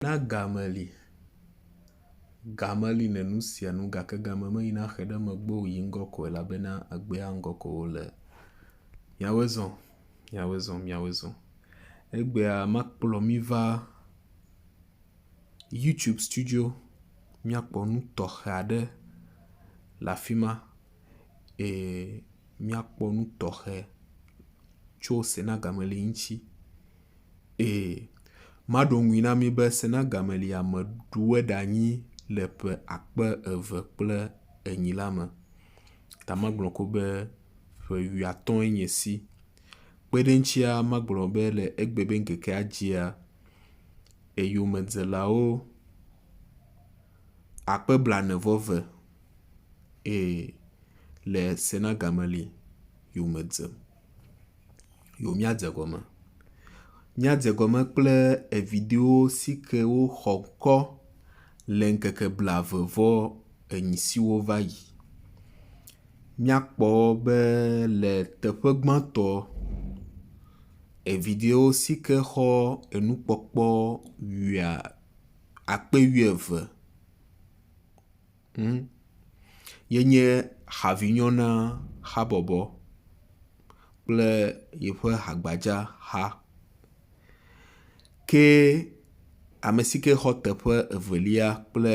Na game li. Game li ne nu sia nu gake game meyina xe ɖe megbe o yi ŋgɔ ko elabena egbea ŋgɔ ko wo le. Miawoe zɔ, miawoe zɔ, miawoe zɔ. Egbea makplɔ mi va YouTube studio miakpɔ nu tɔxe aɖe le afi ma eye miakpɔ nu tɔxe tso Senagame li ŋuti. Ee, maɖo ŋui na mí be Sena Gameliya meɖu woe ɖe anyi le ƒe akpe eve kple enyi la me. Ta magblɔ ko be ƒe wuiatɔ̃e nye esi. Kpe ɖe eŋutsia, magblɔ be le egbe be ŋkekea dzia, eyomedzelawo akpe blaene vɔ ve, ee, le Sena Gameli yome dzem. yo miadze gɔme. Míadze gɔme kple eviɖewo si ke woxɔ kɔ le ŋkeke blave vɔ enyi siwo va yi. Míakpɔ be le teƒe gbãtɔ eviɖewo si ke xɔ enukpɔkpɔ wuia akpe wuieve. Ŋ, yenye havinyɔ na habɔbɔ kple yeƒe hagbadza xa. Ke ame si ke xɔ teƒe evelia kple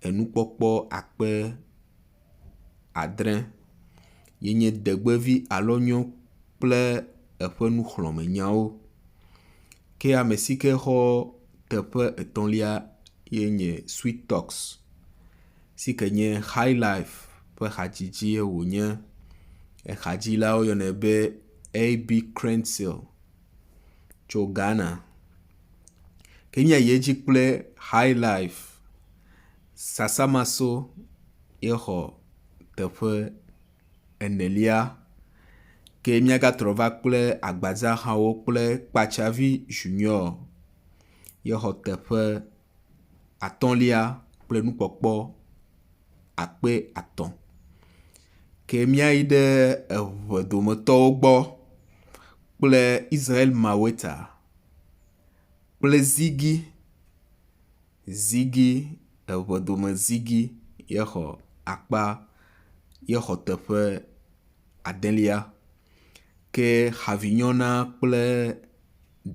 enukpɔkpɔ akpe adre. yenye degbevi alo nyo kple eƒe nuxlɔ̃me nyawo. Ke ame si ke xɔ teƒe etɔ̃lia ye nye Sweet Talks si ke nye Highlife ƒe hadzidzi ye wònye. Echadzila woyɔnɛ be AB Crentsil tso Ghana. Ke nye yi edzi kple Highlife. Sasamaso ye xɔ teƒe enelia. Ke míagatrɔ va kple agbadzahawo kple kpatsavi Junior ye xɔ teƒe atɔ̃lia kple nukpɔkpɔ akpe atɔ̃. Ke míayi ɖe eŋe dometɔwo gbɔ kple Israel Maweta kple Ziggy zigi eŋedome zigi ye xɔ akpa ye xɔ teƒe adelia ke havinyɔna kple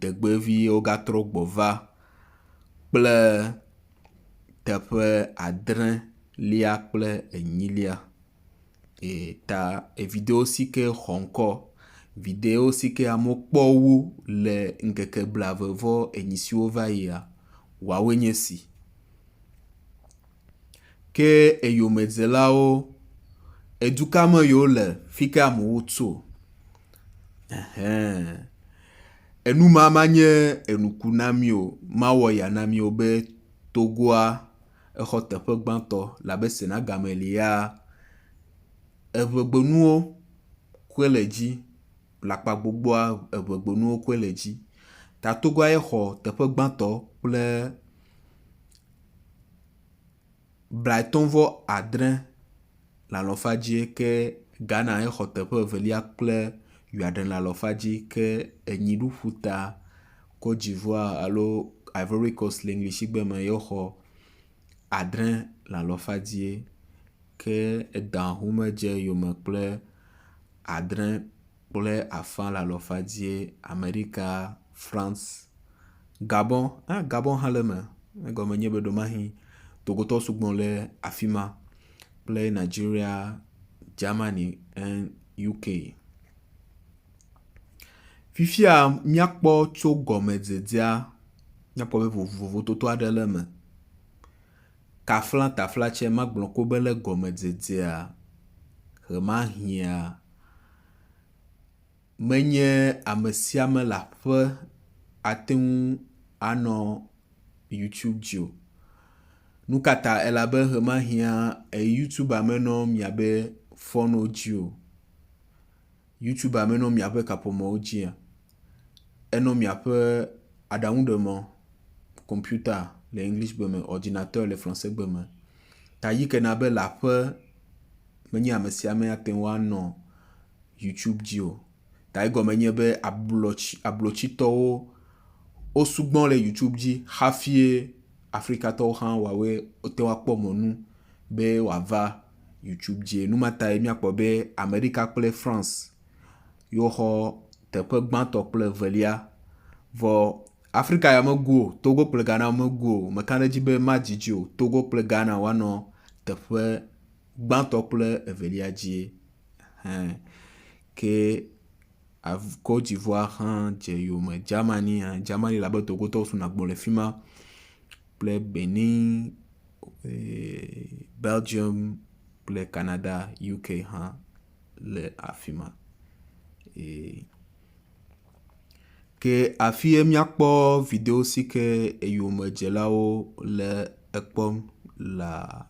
ɖegbevi wo gatrɔ gbɔ va kple teƒe adrelia kple enyilia. ta video si ke xɔ ŋkɔ video si ke amewo kpɔ wu le ŋkeke blaeve vɔ enyi siwo va yia woawoe nye esi. Ke eyomedzelawo edu ka me ye wo le fi ka amewo tso ehẽ. Enu ma ma nye enuku na mi o mawɔ ya na mi o be Togoa. Exɔ teƒe gbãtɔ le abe Sena Gameliya eŋegbenuwo koe le edzi, le akpa gbogboa eŋegbenuwo koe le edzi. Ta togbɔ aye xɔ teƒe gbãtɔ kple blaetɔ̃ vɔ adre le alɔfa dzi ke Ghana hexɔ teƒe evelia kple Ʋeaɖe le alɔfa dzi ke enyi ɖu ƒuta Cote d'Ivoire alo Ivory Coast le Englishigbe me yexɔ adre le alɔfa dzi ke eda ŋumedze yome kple adre kple afã le alɔfa dzi. Amerika, France, Gabon hã Gabon hã le eme egɔme nye be ɖewomahi Togotɔwo sugbɔ ɖe afi ma. kple Nigeria, Germany and UK. Fifia míakpɔ tso gɔmedzedzea, míakpɔ be vovototo aɖe le eme. Tafla tafla tsɛ magblɔ ko be le gɔmedzedzea ʋemahiã. menye amesiame le aƒe ateŋu anɔ youtube dzi o nukata elabe hemahia youtube menɔ miabe fɔnwo dzi o youtube menɔ miabe kaƒomɔwo dzi o enɔ miaƒe aɖaŋu ɖe mɔ computa le english gbe me ordinateur le francais gbe me ta yike nabe le aƒe menye amesiame ateŋu anɔ YouTube dzi o. Ta egɔme nye be ablɔtsi ablotsitɔwo wosugbɔ le YouTube dzi hafie Afrikatɔwo hã wɔawoe wote ŋu akpɔ mɔnu be wòava YouTube dzi. Nu ma tae míakpɔ be Amerika kple France yewo xɔ teƒe gbãtɔ kple evelia. Vɔ Afrika ya megu o. Togo kple Ghana megu o. Meka ɖe edzi be madidi o. Togo kple Ghana woanɔ teƒe gbãtɔ kple evelia dzie. Ɛhɛɛ. Ke avu, Cote-d'Ivoire hã dze yome. Germany hã, Germany le abe Togotowo so na gbɔ le fi ma kple Benin, eeee Belgium kple Canada, UK hã le afi ma. Eeee. Ke afi ye míakpɔ video si ke eyomedzelawo le ekpɔm lea?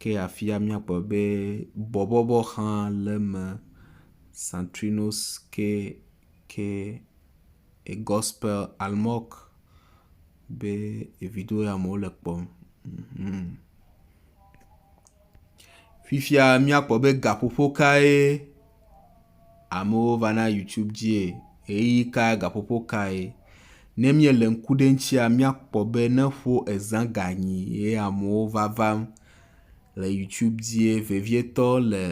Ke afia míakpɔ be bɔbɔbɔ hã le eme. Santrinos ke ke egɔspel almɔk be evido ye amewo le kpɔm. Hmmm. Fifia míakpɔ be gaƒoƒo kae amewo va na youtube dzie, ɣeyiɣi ka gaƒoƒo kae. Ne míele ŋku ɖe eŋtsia míakpɔ be ne ƒo ezã ga nyi ye amewo va vam le youtube dzie vevietɔ le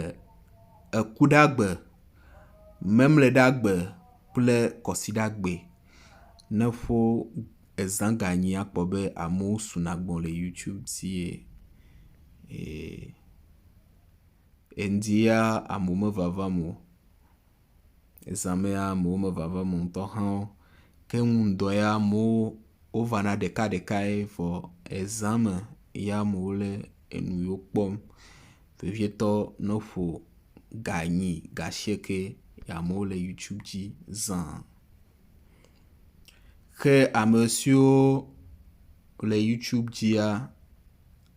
Ekuɖagbe, Memleɖagbe kple Kɔsiɖagbe. Ne ƒo ezã ga nyi akpɔ be amewo suna gbɔ le youtube dzie. Ee. Eŋdi ya amewo mevavam o. Ezã me ya amewo mevavam o ŋutɔ hã o. Ke ŋu ŋdɔ ya amewo wovana ɖekaɖekae vɔ ezã me ya amewo le enu yiwo kpɔm vevietɔ ne woƒo ga enyi, ga asieke ye amewo le youtube dzi zã. Ke ame siwo le youtube dzia.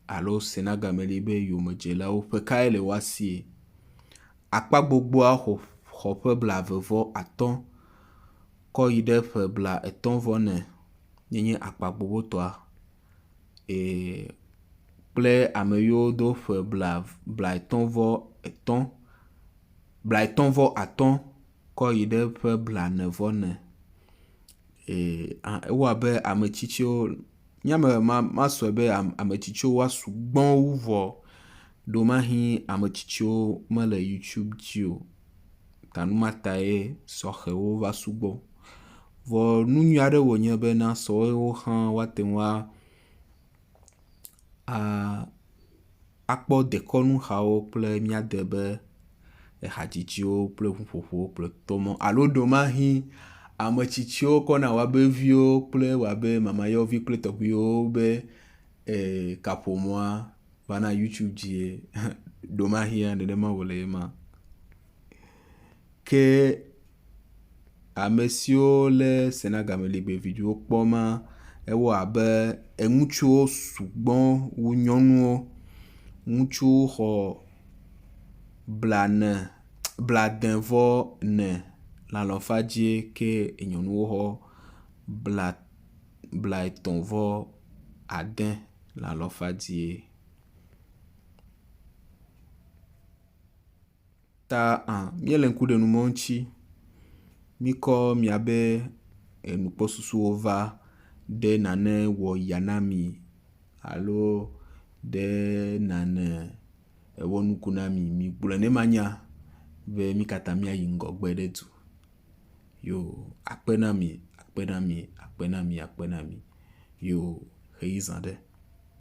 alo sena game li be yomedzelawo ƒe kae le woa sie. Akpa gbogboa xɔ xɔ ƒe blaeve vɔ atɔ̃ kɔ yi ɖe ƒe bla etɔ̃ vɔ ne ye nye akpa gbogbotɔa. E kple ame yiwo do ƒe bla bla etɔ̃ vɔ etɔ̃ bla etɔ̃ vɔ atɔ̃ kɔ yi ɖe ƒe bla ne vɔ ne. E a ewoa be ame tsitsiwo. Nye ame masɔe be ame tsitsiwo wa sugbɔ wu vɔ. Ɖewomahi ame tsitsiwo mele youtube dzi o ta nu ma tae sɔhɛwo va sugbɔ. Vɔ nu nyui aɖe wònye be na sɔhɛwo hã woate ŋu a a. akpɔ dekɔnuhawo kple míade be ehadzidziwo kple ŋuƒoƒowo kple tɔmɔ alo ɖewomahĩ ame tsitsiwo kɔ na woabe viwo kple woabe mamayɔvi kple tɔgbuiwo be e kaƒomɔa va na YouTube dzie. Ɖewomahĩ nenema wòle ema. Ke ame siwo lé se na gameligbe vidziwo kpɔ ma, ewɔ abe eŋutsuwo sugbɔ wu nyɔnuwo. Ŋutsuwo xɔ blane, blade vɔ ne le alɔfa dzie ke nyɔnuwo xɔ bla, blaetɔ̃ vɔ ade le alɔfa dzie. ta hã míele ŋku ɖe nu mɔ ŋuti míkɔ míabe enukpɔsusuwo va ɖe nane wɔyia na mi alo ɖe nane ewɔ nuku na mi. Migblɔe ne manya be nu ka ta míayi ŋgɔgbe ɖe edu. Yo akpe na mi, akpe na mi, akpe na mi, akpe na mi yo ʋeyiza ɖe.